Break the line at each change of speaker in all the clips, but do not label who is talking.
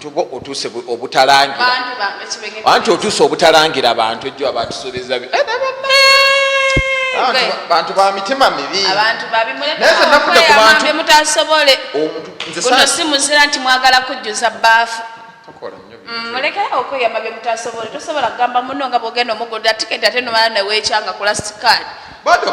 tuba otuuse obutalangira
anti otuuse obutalangira
bantu ejjo abatusuubiza eh, bantu ba mitima
mibi
si muzira
nti mwagala kujjuza baafu mm,
mulekerawo okweyama
bye mutasobole tosobola kugamba muno nga bwogenda omugulira tiketi ate nomala neweekyanga ku lastikaadi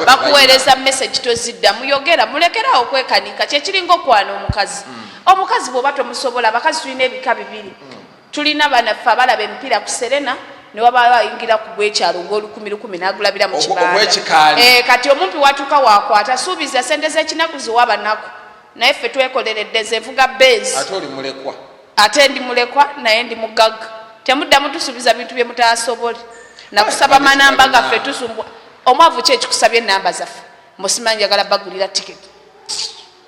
bakuweereza message tozidda muyogera mulekerawo okwekanika kyekiringa okwana omukazi mm. omukazi bwoba tomusobola abakazi tulina ebika bibiri mm. tulina banaffe abalaba emipiira ku serena newabaayo ayingira ku gwekyalo ngolukumi lukumi nagulabira mu kibanda eh, kati omumpi watuuka wakwata suubiza sente zekinaku ziwa banaku naye ffe twekoleredde nze nvuga bezi
ate ndi mulekwa
naye ndi mugagga temuddamu tusuubiza bintu bye mutasobole nakusaba manamba gaffe tusumbwa omwavu ki ekikusabye enamba zaffe musimanyi njagala bagulira tiketi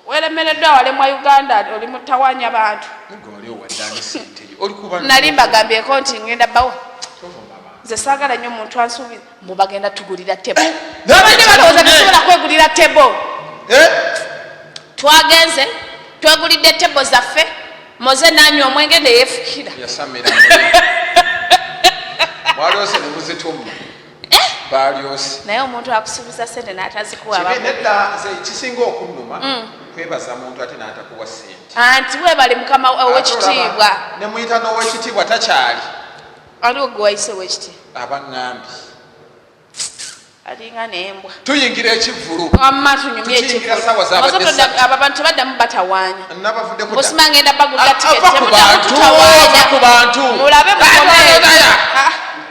welemereddwa walemwa uganda oli mutawanya bantu nali mbagambyeko nti ngenda bawo nze sagala nyo muntu ansuubiza mbu bagenda tugulira tebo eh, abadde balowooza tusobola kwegulira tebo eh? twagenze twegulidde tebo zaffe moze nanywa omwenge neyefukira
eh? balyosi naye omuntu
akusuubiza sente natazikuwaedda nze
kisinga okunnuma mm. kwebaza muntu ate natakuwa sente anti webale mukama
owekitiibwa nemuyita
nowekitiibwa takyali aliwo
gwewayise owekitiibwa abangambi alinga nembwa tuyingira ekivulu abantu baddamu batawanya osima ngenda bagulira tiketi
mulabe mukomee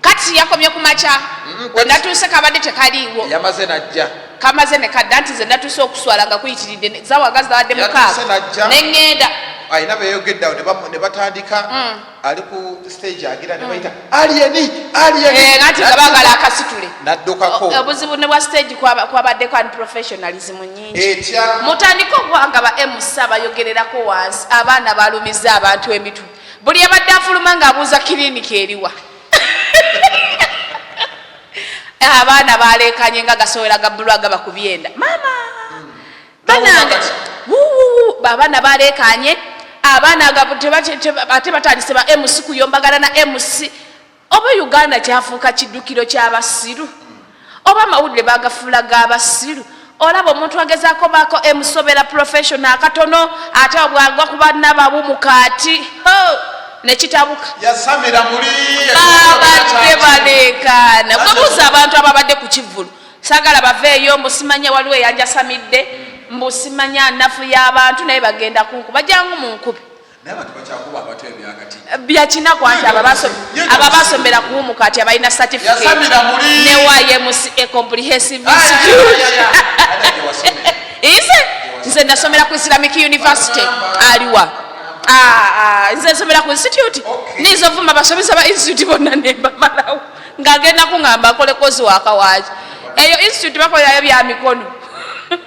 Kati yakomye ku makya we natuuse kabadde tekaliiwo. Yamaze najja.
Kamaze ne kadda
nti nze natuuse okuswala nga kuyitiridde zawaga zabadde mukaaga ne ŋŋenda. Alina
beyogedde awo ne batandika mm. ali ku stage agira ne bayita mm. aliyeni aliyeni. Eh, nanti
nga baagala akasitule. Naddukako. Obuzibu
ne bwa stage
kwabaddeko unprofessionalism nyingi. Etya. Mutandika okuwanga ba MC abayogererako wansi abaana balumiza abantu emitwe. buli abadde afuluma ng'abuuza kiriniki eriwa abaana baleekanye nga gasowera gabbulu agaba ku byenda maama banange abaana baleekanye abaana ate batandise ba mc kuyombagalana mc Oba Uganda kyafuuka kiddukiro ky'abasiru? Oba amawulire bagafuula g'abasiru? Olaba omuntu agezaako baako emusobera profession akatono ate obwagwa ku banna babu mu kaati ne kitabuka. Yasamira
muli babadde
baleekaana. Bwebuuza abantu ababadde ku kivvulu sagala baveeyo mbu simanya waliwo eyanjasamidde mbu simanya nafu y'abantu naye bagenda kunkuba jangu mu nkubi. byakinaku anti aba basomera kuwumuka ati abalina certificate ne yms a comprehensive institute ise nze nasomera ku islamic university aliwa ah, ah, nze nsomera ku institute niiza ovuma basomesa ba institute bonna nembamalawo ng'agenda kuŋamba akole kozi wakawaki eyo institute bakolerayo bya mikono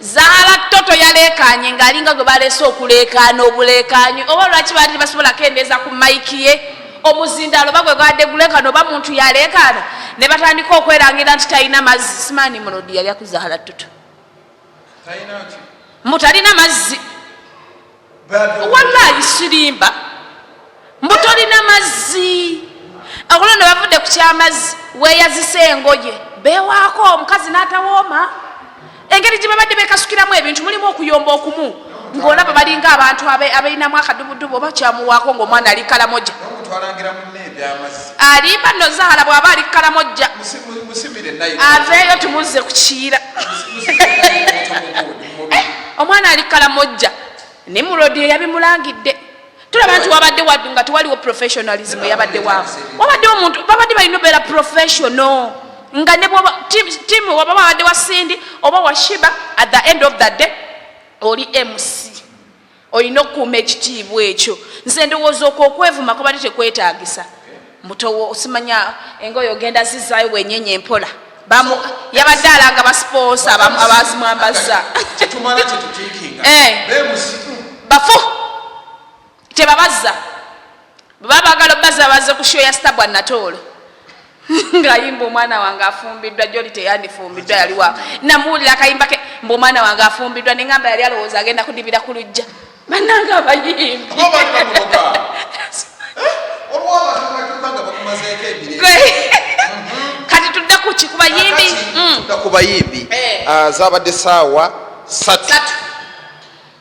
Zahara Toto yaleekaanye ng'alinga gwe baleese okuleekaana obuleekaanyi oba lwaki baali tebasobola kendeeza ku mayiki ye omuzindaalo oba gwe gwadde guleekaana oba muntu yaleekaana ne batandika okwerangira nti talina mazzi simaani mulodi yalya ku Zahara Toto mutalina mazzi wallahi sirimba mbu tolina mazzi akulo ne bavudde ku kyamazzi weyazisa engoye bewaako omukazi n'atawooma engeri gye babadde bekasukiramu ebintu mulimu okuyomba okumu ng'olaba balinga abantu abalinamu akadubudubu oba kyamuwaako ng'omwana ali kalamoja alimba no zahala bw'aba ali kalamoja aveeyo tumuzze ku kiira eh, omwana ali kalamojja ne mulodi eyabimulangidde tulaba nti wabadde wadu nga tewaliwo professionalism eyabadde waabo wabadde omuntu babadde balina obeera professional nga ne bwoba timu waba babadde wa sindi oba washiba at the end of the day oli mc olina okukuuma ekitiibwa ekyo nze ndowooza okwo okwevuma kubadde tekwetaagisa mutowo osimanya engoyo ogenda zizaayo wenyenye empola yabadde alaga basiponsa abazimwambazza eh. bafu tebabazza bwebaba bagala obaza baze ku show ya stabwa natoolo ngayimba omwana wange afumbiddwa joli teyandifumbiddwa yaliwa namuwulira akayimba ke mbu omwana wange afumbiddwa nengamba yali alowooza agenda kudibira ku lujja banange abayimbi kati tudda kuki kubayimbi mm. tudda kubayimbi eh. ah, zabadde saawa satu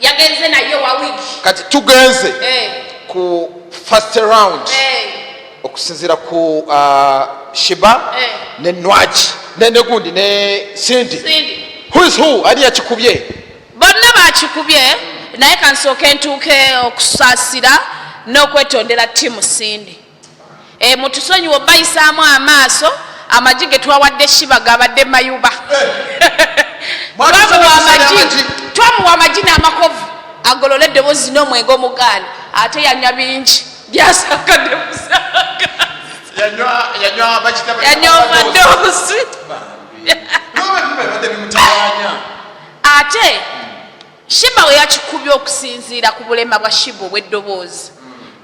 yagenze naye wa wiki kati tugenze eh. ku first round eh. okusinzira ku uh, shiba eh. ne nwaki nenegundi ne sindi whois who ani yakikubye bonna bakikubye naye kansooke ntuuke okusaasira n'okwetondera tiimu sindi Eh, mutusonyiwe obayisaamu amaaso amagi getwawadde shiba gabadde mayuba twamuwa amagi n'amakovu agolole eddoboozi n'omwenge omugaani ate yanywa bingi byasakademusayanyomadoozi ate Sheebah we yakikubye okusinziira ku bulema bwa Sheebah obw'eddoboozi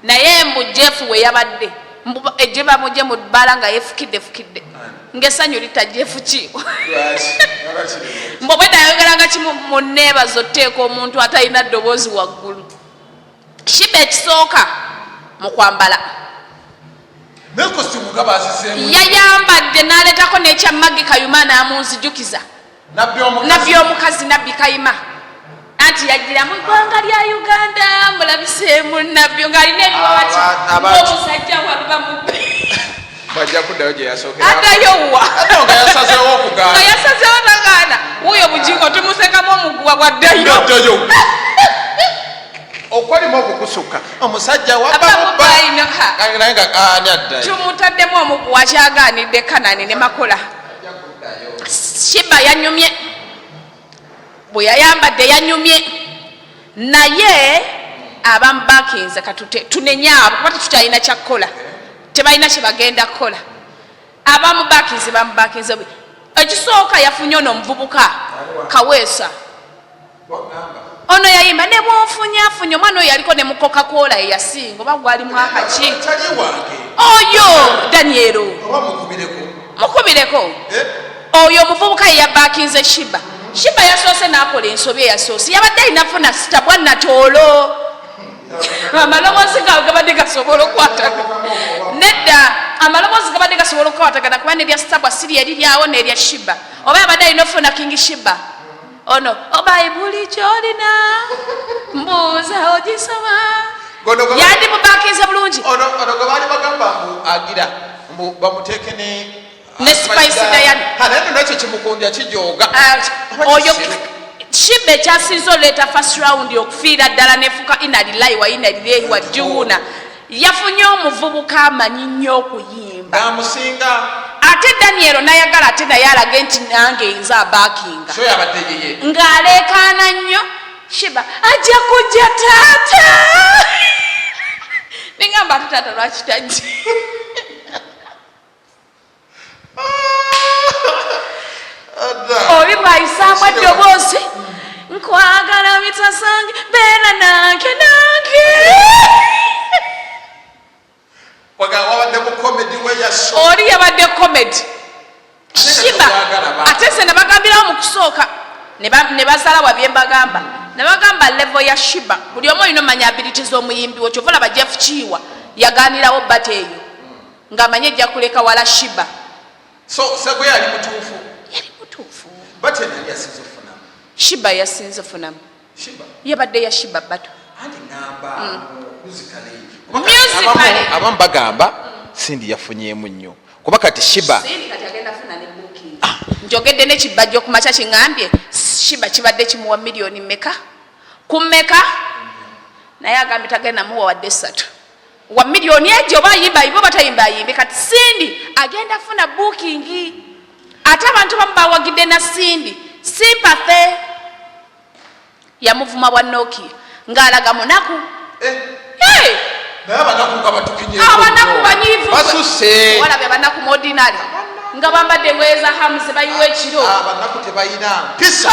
naye mbu Jeff we yabadde mbu ejje bamugye mu bbala nga yefukiddefukidde ng'essanyu litta Jeff ki mbu obwedda yayogeranga kimu mu nneebazo tteeka omuntu atalina ddoboozi waggulu Sheebah ekisooka mu kwambala yayambadde n'aleetako n'ekya Maggie Kayuma n'amunzijukiza nabbi omukazi nabbi kayima anti yajjira mu ggwanga lya uganda mulabiseemu nabbi ng'alina ebiwati omusajja waluba mubbi bajja kuddayo gye yasookeraadayo wa nga yasazeewo okugaana nga yasazeewo nagaana wuuyo bugingo tumusekamu omuguwa gwaddayo okwalimu okukusukka omusajja wabamubainaye nga ani addayo tumutaddemu omuguwa kyagaanidde kanani ne makola shiba yanyumye bwe yayambadde yanyumye naye abamu bakinze katute tunenye abo kuba tetukyalina kyakukola tebalina kyebagenda kukola abamu bakinze bamu bakinze ekisooka yafunye ono omuvubuka kaweesa ono yayimba ne bwofunyafunya omwana oyo yaliko ne mukoka kwola eyasinga oba gwali mwaka ki oyo danielo mukubireko eh? oyo omuvubuka yeyabakinze shiba shiba yasoose nakola ensobi eyasoose yabadde ayinafuna sitabwa natoolo amaloboozi gawe gabadde gasobola okukwatagana nedda amaloboozi gabadde gasobola okukwatagana kuba nebya sitabwa siri eriryawo nerya shiba oba yabadde alina ofuna kingi shiba ono obayibuli oh, kyolina mbuuza ogisoma yandi mubakinze bulungi ono gwe baali
bagamba mbu agira mbu bamuteeke ne ne
spice dayani naye no nakyo
kimukundya kijooga uh, oyo
shibba ekyasinza oleeta first round okufiira ddala nefuuka inalilayi wa inalilehi wa juuna yafunye omuvubuka amanyi nnyo okuyimba namusinga
ate danielo
nayagala ate naye alage nti nange nze abakinga ng'aleekaana nnyo shiba ajja kujja taata nengamba ate taata lwaki tajja obibayisaamu eddoboozi nkwagala bitasange beera nange nange oli yabadde komedi kima ate se nebagambirawo mu kusooka ne bazala wa byembagamba nebagamba levo ya shiba buli omu olina omanya abiliti z'omuyimbi wo kyova olaba jeff kiiwa yaganirawo bata eyo nga amanyi ejja kuleka wala shiba so
sagwe yali mutuufu yali mutuufu
bate nali yasinza ofunamu shiba yasinza ofunamu shiba yabadde ya shiba bato anti namba
mm. muzikale abamu bagamba sindi yafunyemu nnyo kuba kati shiba ah.
njogedde nekibajja okumakya kiŋambye shiba kibadde kimuwa miliyoni meka ku meka naye agambye tagenda muwa wadde esatu wa million ejo oba ayimba ayimbe oba tayimba ayimbe kati sindi agenda funa booking ate abantu bamu bawagidde na sindi sympathy yamuvuma bwa noki ng'alaga munaku eh. hey! abanaku banyivu walabye
abanaku
muodinary nga bambadde engoye za hamuzi bayiwa ekiro abanaku tebayina
mpisa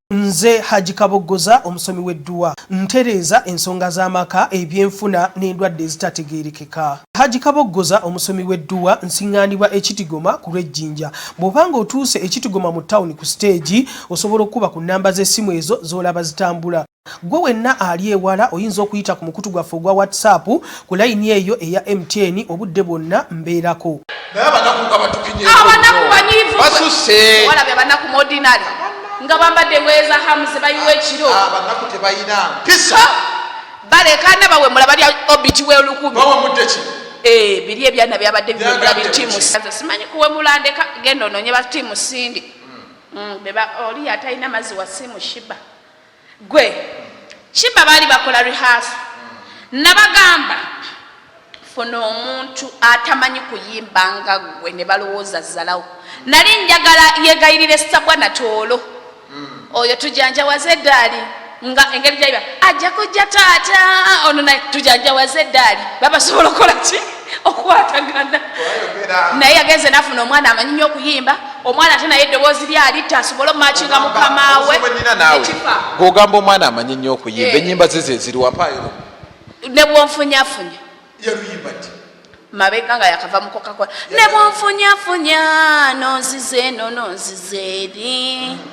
Nze Hajji Kaboggoza omusomi w'edduwa. Ntereeza ensonga z'amaka, ebyenfuna n'endwadde ezitategeerekeka. Hajji Kaboggoza omusomi w'edduwa. Nsiŋŋaanibwa e Kitigoma ku lw'e Jinja. Bw'oba ng'otuuse e Kitigoma mu ttawuni ku siteegi, osobola okukuba ku nnamba z'essimu ezo z'olaba zitambula. Ggwe wenna ali ewala oyinza okuyita ku mukutu gwaffe ogwa WhatsApp Ku layini eyo eya MTN obudde bwonna mbeerako. Naye abanaku nga batukinye. Abanaku
banyivu. Basuse. Wala be
banaku
modinari. Nga bambadde engoye za hamu ze bayiwa ekiro. Abanaku tebayina
mpisa. Balekana
bawemula balya obiti w'olukumi. Bawemudde ki?
Eh, biri ebyana
byabadde bimula bi tiimu. Simanyi kuwemula ndeka genda ononye ba tiimu sindi. Mm. Mm, beba oli atalina mazzi wa simu shiba. Gwe kiba baali bakola rehearsal nabagamba funa omuntu atamanyi kuyimba nga gwe ne balowooza zalawo nali njagala yegayirire sabwa natoolo hmm. oyo tujanjawaze eddaali nga engeri gyayiba ajja kujja taata ono naye tujanjawaze eddaali babasobola okukola ki okwatagana naye yagenze nafuna omwana amanyi nyo okuyimba omwana ate naye eddoboozi lyalitta asobole omumakinga mukamawe
gogamba omwana amanyi nyo okuyimba eh. enyimba zize ziriwapayo
nebwonfunyafunya mabega nga yakava mukokakola nebwonfunyafunya nonzize eno nonzize eri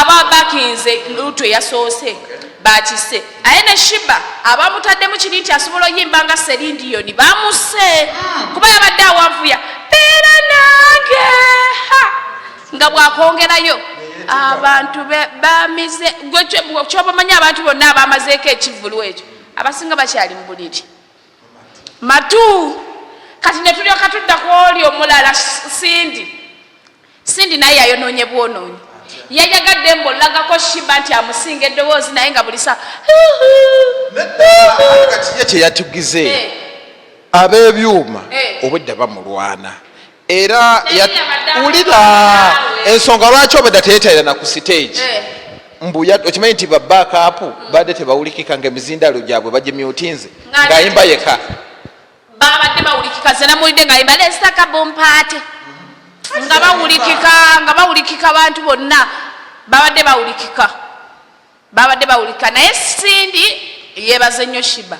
ababakinze lutu eyasoose bakise aye ne shiba abamutaddemu kiri nti asobola oyimba nga serindiyoni bamuse kuba yabadde awavuya beera nange nga bwakongerayo abantu bamize kyobamanyi abantu bonna abamazeeko ekivulu ekyo abasinga bakyali mu buliri matu kati netulyoka tudda ku oli omulala sindi Cindy naye yayonoonye bwonoonyi. Yayagadde mbu olagako Shiba nti amusinga eddoboozi naye nga buli saa
ye kye yatugize eh. ab'ebyuma eh. obwedda bamulwana era wulira ensonga lwaki obwedda teyetalira na ku siteegi eh. mbu okimanyi nti babakaapu badde tebawulikika nga emizindaalo gyabwe bagimyutinze ng'ayimba yeka babadde
bawulikika ze namuwulidde nga yimba lesta kabompaate nga bawulikika nga bawulikika bantu bonna babadde bawulikika babadde bawulika naye sindi yebaze nnyo shiba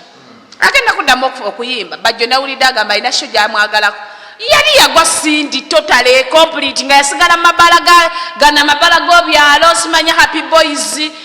agenda kuddamu okuyimba bajjo nawulidde agamba alina sho gyamwagalako yali yagwa sindi totale complete nga yasigala mabala ganamabala gobyalo simanya happy boys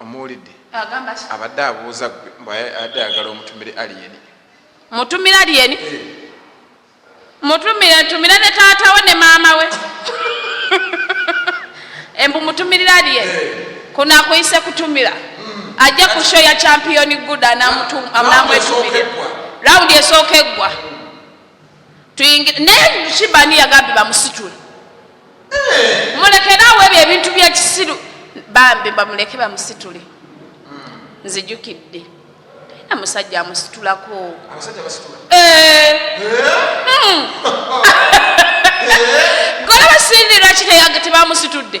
omuwulidde abadde abuuza gwe mbadde ayagala omutumire alien mutumire alien eh. mutumire ntumire ne taata we ne maama we embu mutumirire alien eh. kuno akuyise kutumira hmm. ajja ku sho ya champion good anamwetumire rawundi esooka eggwa tuyingire naye kibani yagambye bamusitule eh. mulekere awo ebyo ebintu byekisiru bambi bamuleke bamusitule hmm. nzijukidde talina musajja amusitulako eh. hmm. gola basindira kiteyaga tebamusitudde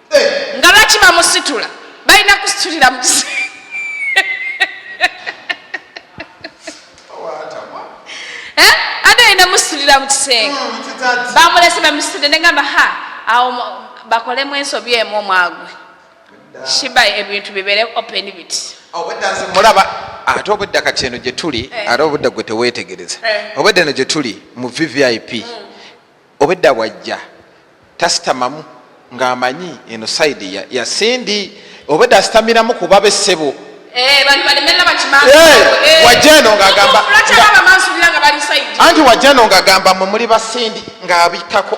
nga lwaki bamusitula balina kusitulira mu kisenge bamusitulira mu kisenge hmm, bamulese bamusitulire negamba ha awo bakolemu ensobi emu omwagwe shiba ebintu bibere open bit mulaba ate obwedda kati eno gyetuli eh. ate obudda gwe tewetegereza eh. obwedda eno gyetuli mu vvip hmm. obedda bwajja tasitamamu ng'amanyi eno saidi ya, ya sindi obedda asitamiramu kuba be ssebo eh, eh, eh, wajja eno ng'agamba anti wajja eno ng'agamba mwe muli basindi ng'abikkako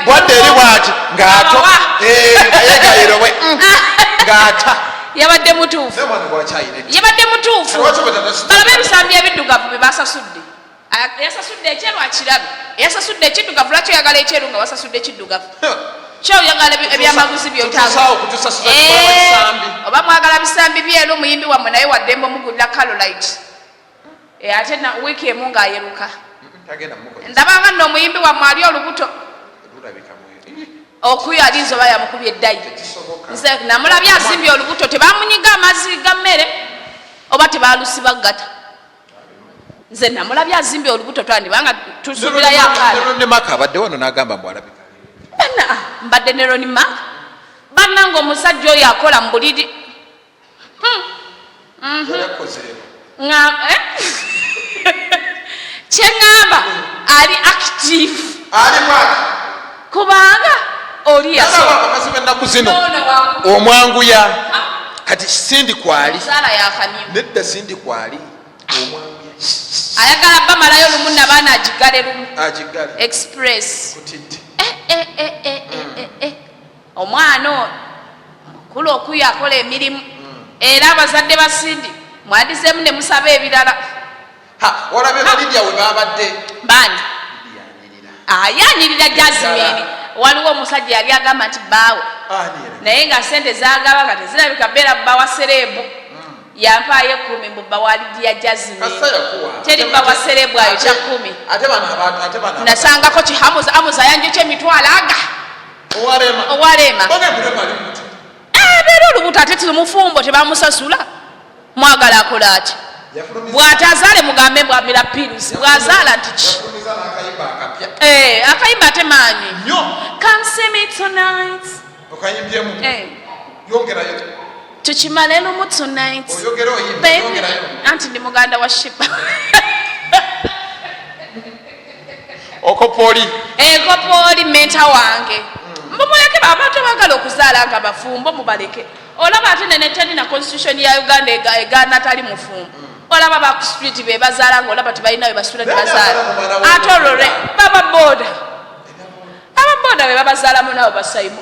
bwadde eri bwati ng'ato yegayirowe mm, ng'ata yabadde mutuufu yabadde mutuufu balabe ebisambi ebiddugavu bye basasudde Eyasasudde ekyeru akirabe, eyasasudde ekiddugavu lwaki oyagala ekyeru nga wasasudde ekiddugavu? Kyo oyagala ebyamaguzi byotaoba eh, mwagala bisambi byeru muyimbi wammwe naye waddembe omugulira kalolite eh, ate wiiki emu ng'ayeruka ndabanga nno omuyimbi wammwe ali olubuto okuyo alinza oba yamukubye eddayi nze namulabye azimbye olubuto tebamunyiga amazzi ga mmere oba tebalusibaggata nze namulabye azimbye olubuto twandibanga tusuubira yakaronimaka abadde wano nagamba mbwalabi bana mbadde ne roni mak banna nga omusajja oyo akola mu buliri hmm. mhm. eh? kyeŋamba ali active kubanga oli yasoba abakazi bennaku zino omwanguya kati sindi kwali nedda sindi kwali ayagala
bamalayo lumu nabaana agigale lumu express eh, eh, eh, omwana ono mukulu okuyo akola emirimu hmm. era abazadde basindi mwadizeemu ne musaba ebirala
olabye balidia
we babadde
bani
ayanirira
jazimini
waliwo omusajja yali agamba nti baawe naye nga sente zagaba nga tezirabika beera bawa sereebu hmm. yampaayo ekumi mbu bawalidia jazimini teri bawa sereebu ayo kya kumi nasangako kihamuza amuza yanjokyo emitwalo aga owalema abeera olubuto ate tiri mufumbo tebamusasula mwagala akola ati bwatazaale mugambe mbwamira pills bwazaala tiki akayimba eh, ate maanyi tukimale lumu tonight anti ndi muganda wa shiba
okopoli ekopoli eh, menta wange mbumuleke abantu abagala okuzaala nga bafumbo mubaleke olaba ate nene teri na constitution ya uganda egaana atali mufumbo olaba ba ku street be bazaala nga olaba tebalina we basula ne bazaala ate olwo lwe baba boda aba boda be babazaalamu nabo basaimo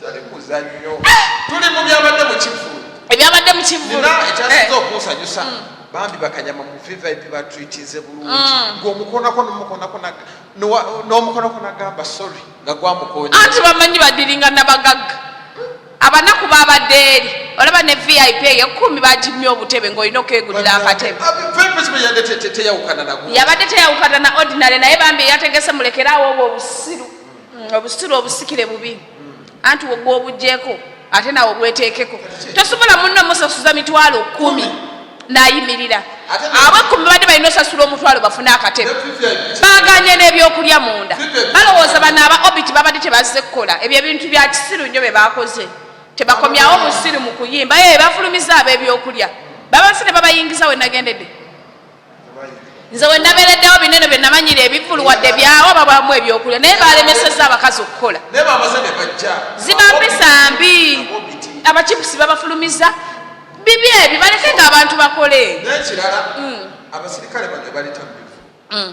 tali muzanyo tuli mu byabadde mu kivulu ebyabadde mu kivulu ekyasinza eh. okunsanyusa
mm. bambi bakanyama mu vvip batreatinze bulungi mm. ngaomukonako nomukonako nagamba sorry nga gwamukonya anti bamanyi badiringa
nabagagga abanaku babadde eri olaba ne vip eyo kumi bagimye obutebe ngaolina okwegulira akatebe yabadde teyawukana na ordinary naye bambi eyategese mulekeraawo obwo obusiru mm, obusitula obusikire bubi anti wogwa obujeko ate nawe obwetekeko tosobola munno musasuza mitwalo kumi nayimirira abo ekumi badde balina osasula omutwalo bafune akatebe baganye n'ebyokulya munda balowooza bano aba obit babadde tebazze kukola ebyo ebintu bya kisiru nnyo bye bakoze tebakomyawo busiru mu kuyimba ye bafulumiza ab'ebyokulya babafune babayingiza we nagendedde nze wenabereddewo binene byenamanyira ebivulu wadde byawo babamu ebyokulya naye balemeseza abakazi okukola ziba mpisa mbi abakipusi babafulumiza bibi ebyo baleke nga abantu bakole nekirala mm.
abasirikale bano baleta mubivu mm.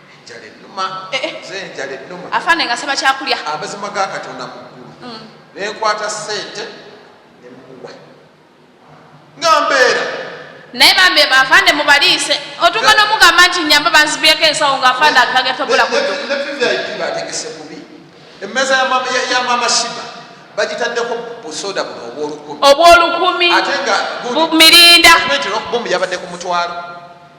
eh, eh. afande nga saba kyakulya
amazima ga katonda
muggulu mm. nenkwata sente nemuwa nga mbeera naye bambi
afande mubaliise otuka nomugamba nti nyamba banzibyeko ensawo nga afande akagetobola kubategese
bubi emmeeza ya mama shiba bagitaddeko busoda buno obwolukumi obwolukumi
ate nga
mirinda
yabadde
ku mutwalo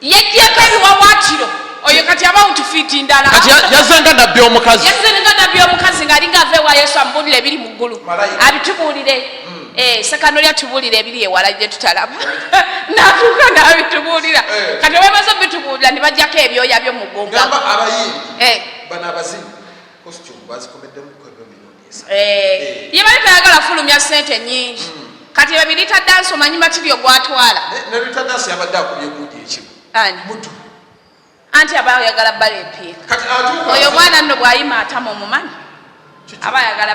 Yajjako
ebiwawaatiro oyo kati abawuntu fiiti ndala. Kati yazze nga nabbi
omukazi. Yazze nga nabbi omukazi ng'ali
ng'ava ewa Yesu amubuulira ebiri mu ggulu. Abitubuulire. Hmm. Eh, sekano lya tubuulira ebiri ewala gye tutalaba. Natuuka n'abitubuulira. Eh. Kati bamaze obitubuulira ne bajjako ebyoya byo mu ggumba. Gamba abayimbi. Eh.
Bano abazimu. Costume bazikomeddemu Eh,
ye bali tayagala fulumya sente nyingi kati ebyo birita dansi omanyi matiryo gwatwala
anti
aba ayagala bala empiika oyo omwana nno bwayima atama omumanyi aba ayagala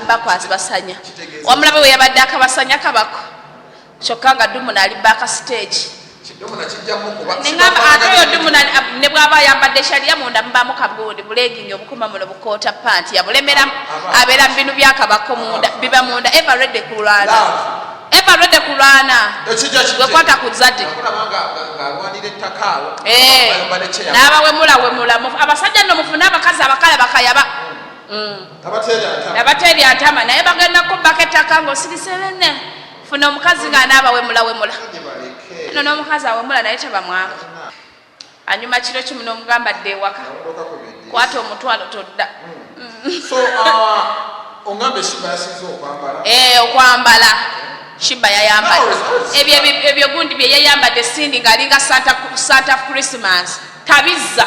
bakwasi basanya wamulabe weyabadde akabasanya kabako kyokka nga dumuna ali baaka siteegi ate oyo dumuna ne bw'aba ayambadde ekyaliya munda mubaamu kabundi bulegingi obukuma muno bukoota panti yabulemera abeera mu binu byakabako munda biba munda eva redde kulwana eva redde kulwana
wekwata ku zadi eh, n'abawemula wemula abasajja no mufune abakazi abakala bakayaba mm. abateeri atama naye bagenda kubbako ettaka ng'osirise benne funa omukazi nga anaaba wemula wemula no n'omukazi awemula naye tebamwanga anyuma kiro kimu n'omugamba dde ewaka kwata omutwalo todda okwambala shiba yayambadde ebyo gundi byeyeyambadde sindi ng'alinga santa christmas tabizza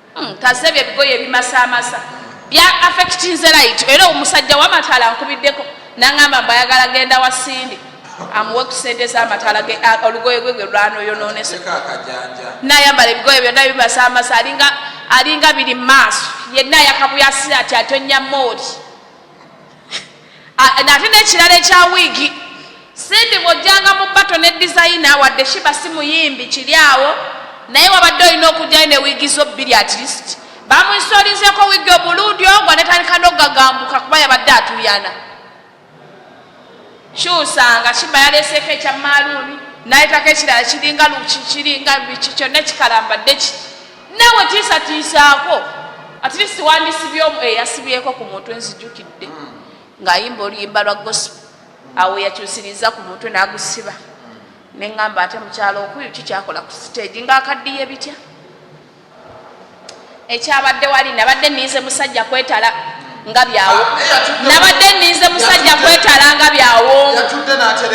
Hmm, kaze bye bigoye bimasamasa bya affectinze right era omusajja wamatala nkubiddeko nangamba mbayagala genda wa sindi amuwe ku sente zamatala ge olugoye gwe gwe lwanoyononese nayambala ebigoye byonna bimasamasa alinga alinga biri maaso yenna yakabuyasira ati atonnya mooli nate nekirala ekya wiigi simbi bwojjanga mu bato ne dizayina wadde shiba si muyimbi kiri awo naye wabadde olina okujjayo ne wiigi zo bbiri at least bamuisolinzeko wiigi obulundi ogwa netandika nogagambuka kuba yabadde atuyana kyusanga shiba yaleseeko ekya maaluuni nayetako ekirala kiringa luki kiringa biki kyonna kikalambadde ki nawe tiisatiisaako atlist wandisibyomu eyasibyeko eh, ku mutwe nzijukidde hmm. ng'ayimba oluyimba lwa gosp awo yakyusiriza ku mutwe n'agusiba hmm. neŋŋamba ate mukyalo okuyu kikyakola ku siteegi ng'akaddiye bitya ekyabadde wali nabadde ninze musajja kwetala nga byawo ah, nabadde ninze musajja kwetala nga byawo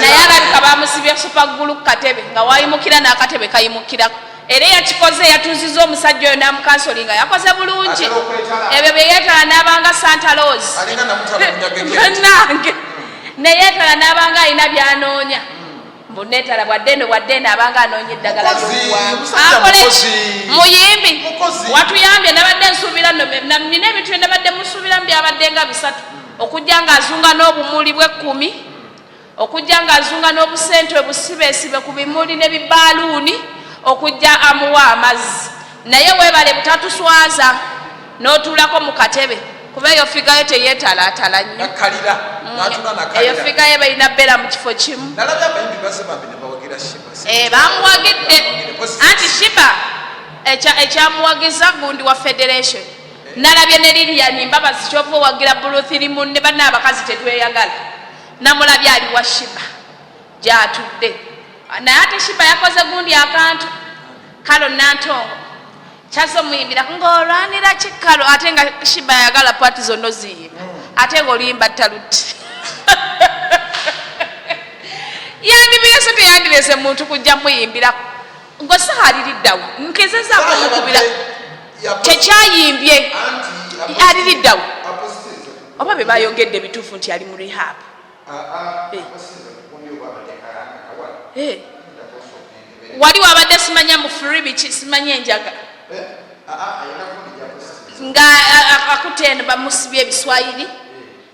naye alabika bamusibye supaggulu ku katebe nga wayimukira n'akatebe kayimukirako era eyakikoze yatuuziza omusajja oyo namukansoli nga yakoze bulungi ebyo byeyetala nabanga santa los nange neyetala nabanga alina byanoonya mbunetala bwaddeno bwaddeno abanga anoonya eddagala lyokwaakole muyimbi watuyambye nabadde nsuubira nina ebintu bye nabadde musuubiramu byabadde nga bisatu okujja nga azunga n'obumuli bwekkumi okujja ng'azunga n'obusente obusibeesibe ku bimuli ne bibaaluuni okujja amuwa amazzi naye weebale butatuswaza n'otuulako mu katebe kuba eyo figa yo teyeetalaatala nnyo mm, eyo figa ye balina bbeera mu kifo kimu eh, bamuwagidde anti shiba ekyamuwagiza gundi wa federation Nalabye ne Lilian Mbabazi kyova owagira Buluthiri munne banne abakazi tetweyagala. Namulabye ali wa Shiba gyatudde naye ate Shiba yakoze gundi akantu kalo Nantongo kyaze omuyimbirako ng'olwanira kikalo ate nga Shiba yagala pati zonna oziyimba ate ng'oluyimba taluti yandibirese teyandibirese muntu kujja muyimbirako Ngo sihaliriddawo nkezezako mukubira kyekyayimbye aliriddawo oba be bayogedde bituufu nti ali mu rehab ah, ah, eh. eh. wali wabadde simanya mu free biki simanya enjaga eh? ah, nga akutte eno bamusibye ebiswayiri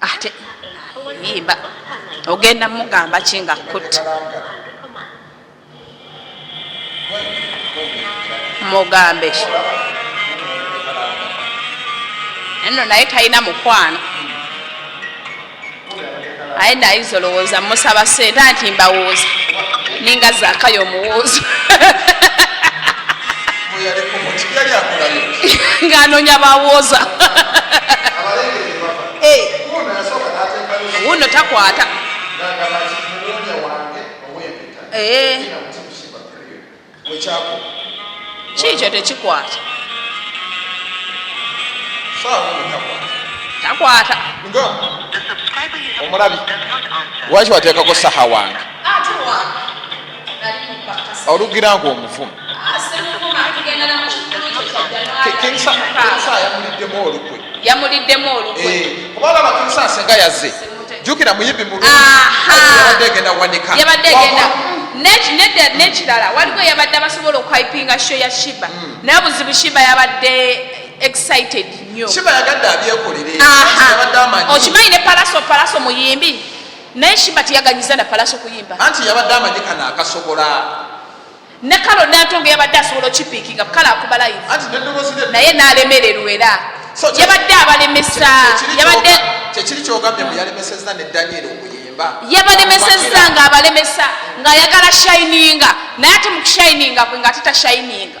ate yimba ogenda mugamba ki nga kutta mugambe nno naye talina mukwano aye nayiza olowooza musaba sente anti mbawooza ninga zakayo omuwoozo ng'anoonya bawooza eh. wuno takwata eh. kiikyo tekikwata takwata
omulabi lwaki wateekako saha wange olugira nga omuvumu
yamuliddemu olukwe eh, kubalaba kinsasenga
yaze jukira muyibi muluyabadde egenda wanika
nekirala waliwo yabadde abasobola okwipinga sho ya shiba hmm. naye buzibu shiba yabadde excited nyo shiba yagadde abyekolere okimanyi ne palaso palaso muyimbi naye shiba teyaganyiza na palaso kuyimba anti yabadde amanyi kana
akasobola ne
kalo nantongo yabadde asobola okipiikinga bukala akuba live naye nalemererwa era yabadde abalemesa yabadde
kyekiri kyogambye mbu yalemeseza ne daniel okuyimba yabalemeseza
nga abalemesa ng'ayagala shininga naye ate mu kushininga kwe nga ate tashininga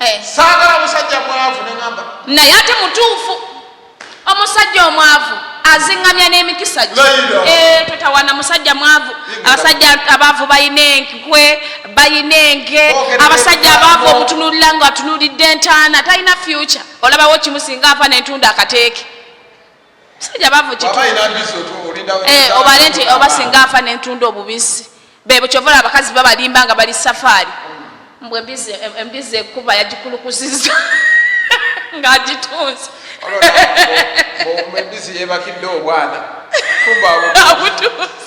eh. saagala musajja mwavu neamba naye ate mutuufu
omusajja omwavu azingamya n'emikisa gye eh, totawana musajja mwavu abasajja abaavu balina enkwe balina enke abasajja abaavu omutunulira nga atunulidde entaana talina fyuca olabawo kimusinga afa nentunda akateeke musajja bavu eh, obale nti oba singa nfa nentunda obubisi bebo kyovola abakazi babalimba nga bali safaari mbu embizi ekuba yagikulukusiza ng'agitunze embizi
yebakidde obwana kumba abutunze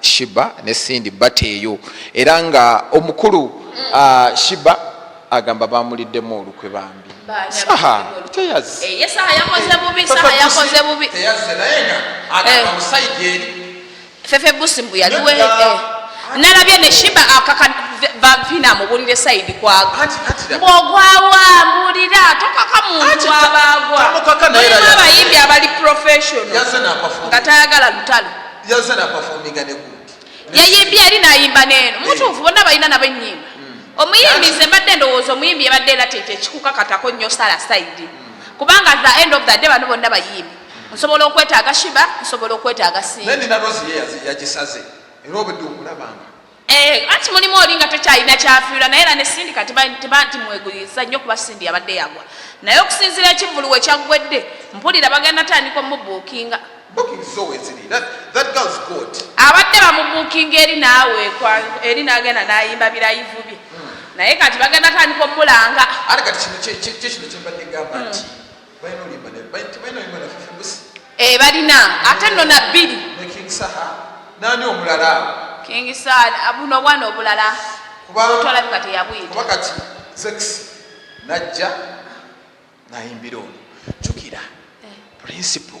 Shiba ne Cindy bateeyo era nga omukulu uh, Shiba agamba bamuliddemu olukwe bambi saha teyazi eh, saha yakoze bubi
saha yakoze bubi teyazi naye nga
agamba eh. musajja eri fefe busi mbu
yali we eh. nalabye ne shiba akaka vavina amubulire saidi kwaga mbwogwawa mbulira tokaka muntu abagwa abayimbi abali professional nga tayagala lutalo yaze napafominga
ne gundi yayimbye eri
nayimba neeno mutuufu bonna balina nabo ennyimba hmm. omuyimbi nze mbadde ndowooza omuyimbi yabadde era tete ekikukakatako nnyo sala saidi hmm. kubanga the end of the day bano bonna bayimbi nsobola okwetaaga shiba nsobola okwetaaga singa naye nina rozi ye
yagisaze era obudde okulabanga Eh, anti mulimu
oli nga tokyalina kyafiirwa naye era ne sindi kati timweguyiriza nnyo kuba sindi yabadde yagwa naye okusinzira ekivulu we kyaggwedde mpulira bagenda tandika omubuukinga abadde bamubuukinga eri naawe eri nagenda nayimba birayivu bye hmm. naye kati bagenda tandika omulanga ate kati kino kyekino kyembadde gamba nti hmm. eh, balina ate nno na bbiri
nani omulala kingisal
buno obwana obulala twalabika teyabwita kati
zex najja nayimbira ono jukira eh. principle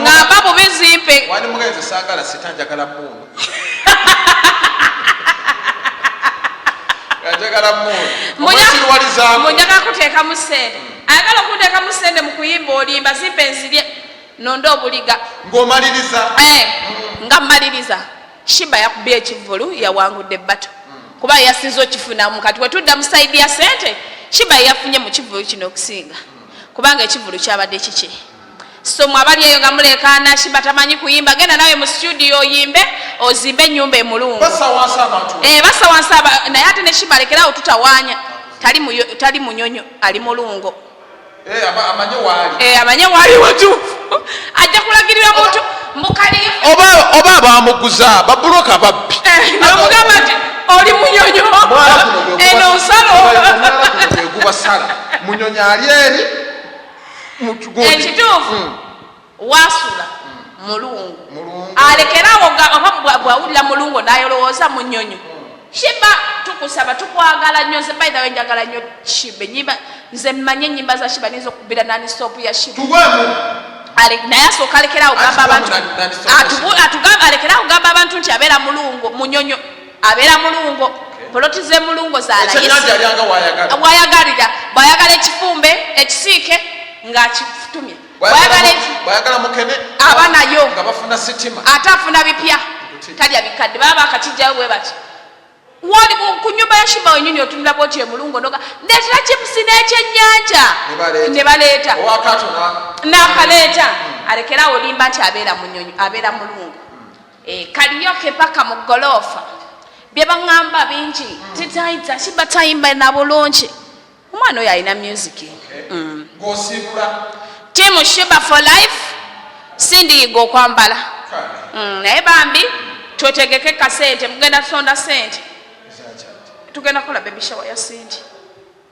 ngamba mu bizimpe wali mugenzi sagala
sita njagala muunu njagala muunmunjaga
kuteekamu sente hmm. ayagala okuteekamu sente mu kuyimba olimba zimpe nzirye nonde obuliga ngaomaliriza
eh, hmm. nga
mmaliriza shiba yakubye ekivulu yawangudde bato hmm. kuba yasinza okifunamu kati wetudda mu saidi ya sente shiba yafunye mu kivulu kino okusinga kubanga ekivulu kyabadde kiki so mwabali eyo nga mulekaana shimba tamanyi kuyimba genda nawe mu studio oyimbe ozimbe enyumba emulungu eh, basawansa naye ate ne shimba alekerawo tutawanya tali munyonyo ali mulungo eh, eh, amanye waali watuufu ajja kulagirira muntu oba
abamuguza babuloka babbi namugamba nti
oli munyonyo eno nsalo
munyonyo ali eri ekituufu
hmm. wasula hmm. mulungu alekerawo oba bwawulira mulungu nayolowooza mu nyonyo shiba tukusaba tukwagala nyo nze by the way njagala nyo shiba enyimba nze mmanyi enyimba za shiba nizo okubira nani stop ya shiba naye asooka alekerawo gamba abantu atugamba alekerawo gamba abantu nti abeera mulungu munyonyo abeera mulungo poloti ze mulungo zalawayagalira bwayagala ekifumbe ekisiike ngaakitumye
aba nayo ate afuna bipya
talya bikadde baba bakakijjayo bwe batyo woli ku nyumba ya shiba wenyini otunula bwoti emulungo noga ndetera chipusi nekyenyanja nebaleeta nakaleeta hmm. alekera awo limba nti abeera munyonyi abeera mulungu E, kaliyoke paka mu goloofa byebaŋamba bingi tetaita kiba tayimba na bulungi omwana oyo alina music mm. team shiba for life sindiyiga okwambala mm, naye bambi twetegeke kasente mugenda tusonda sente tugenda kola bebishawa ya sindi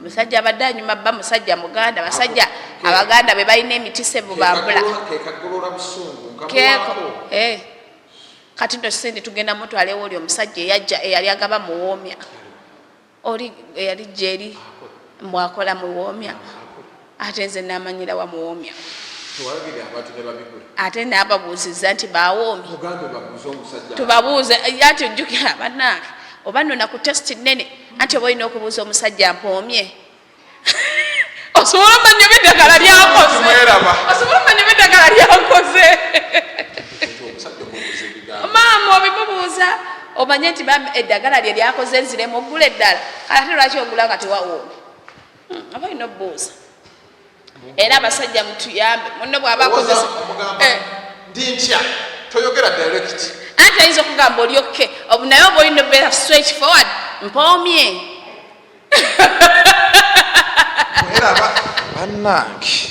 musajja abadde anyuma bba musajja muganda basajja abaganda be balina emitisa ebubambula eh. kati no sente tugenda mutwalewo oli omusajja eyajja eyali agaba muwoomya oli eyali jeri mwakola muwoomya ate nze namanyira wa muwomya ate nababuuziza nti bawoomi tubabuuze ati ojjukira banange oba nona ku testi nene anti oba olina okubuuza omusajja mpoomye osobola omanya oba eddagala lyakozeosobola omanya oba eddagala lyakoze maama obimubuuza omanye nti eddagala lye lyakoze nziremu ogula eddala kale ate lwaki ogula nga tewawoomi hmm, aba alina obuuza era abasajja mutuyambe munne bwaba akozesa eh. ndi ntya toyogera direct anti ayinza okugamba oli okke obu naye oba olina obeera straight forward mpoomye
bannange